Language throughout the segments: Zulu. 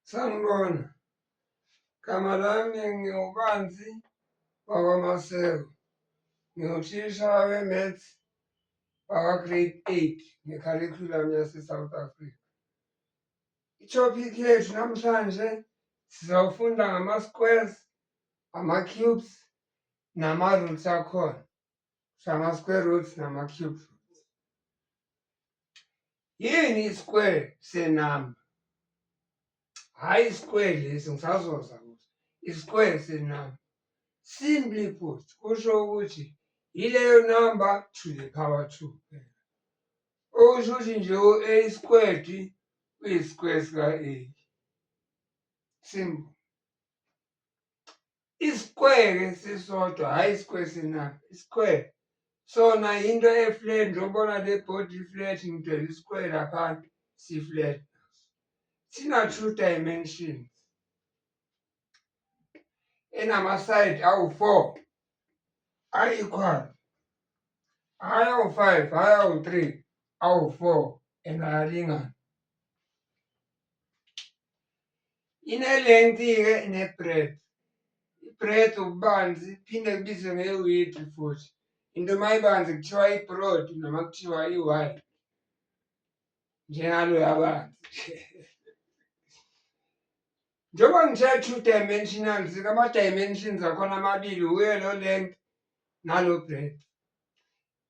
Sanibona, gama lami ngiwubanzi wakwamaseko ngiwuthisha we-maths wakwa-grade eight ngekharikhulamu yase-south africa i-topic yethu namhlanje sizofunda ngama-squares ama-cubes nama-roots akhona sama-square roots nama-cube roots yini i-square senumber hhayi i-square lesi ngisazoza kuso i-square senumber simply put kusho ukuthi yileyo number to the power two phela okusho ukuthi nje u-a squared uyi-square sika-a simple isikweke sisodwa hhayi isikweke sinabo isikweke sona yinto eflat njobona le body iflat ngidwela isikweke laphansi siflat sina-two dimensions enamasayidi awu-four ayi-equal hhayi awu-five hhayi awu-three awu-four and ayalingana Inelengthi-ke ne-bread. I-bread ububanzi iphinde kubizwe nge-wheat futhi. Into uma ibanzi kuthiwa i-broad noma kuthiwa i-wide njengaloya banzi. Njengoba ngithe two dimensional zikama-dimensions akhona amabili wuye lo length nalo breadth.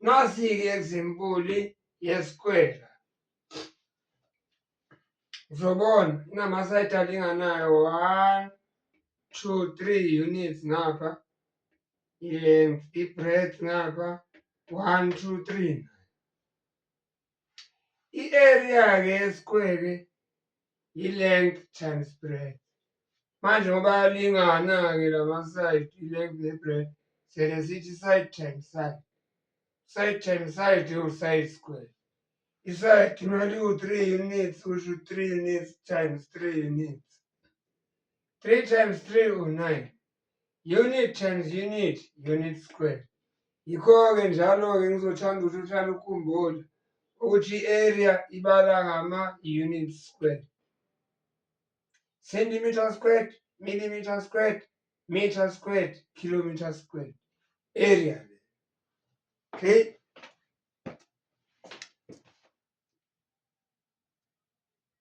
Nasi-ke egzimpuli yesikwela. Uzobona inama-side alinganayo one, two, three units ngapha. Length, i-breadth ngapha, one, two, three. I-area-ke yesikwele yi-length times breadth manje ngoba yalingana-ke lama-side i-length ne-breadth sele sithi side times side side times side iwu-side square i-side imali iwu-three units kusho three units times three units three times three u-nine unit times unit unit square yikho-ke njalo-ke ngizothanda ukuthi uhlale ukhumbule ukuthi i-area ibala ngama-unit square centimeter squared millimeter squared meter squared kilometer squared area okay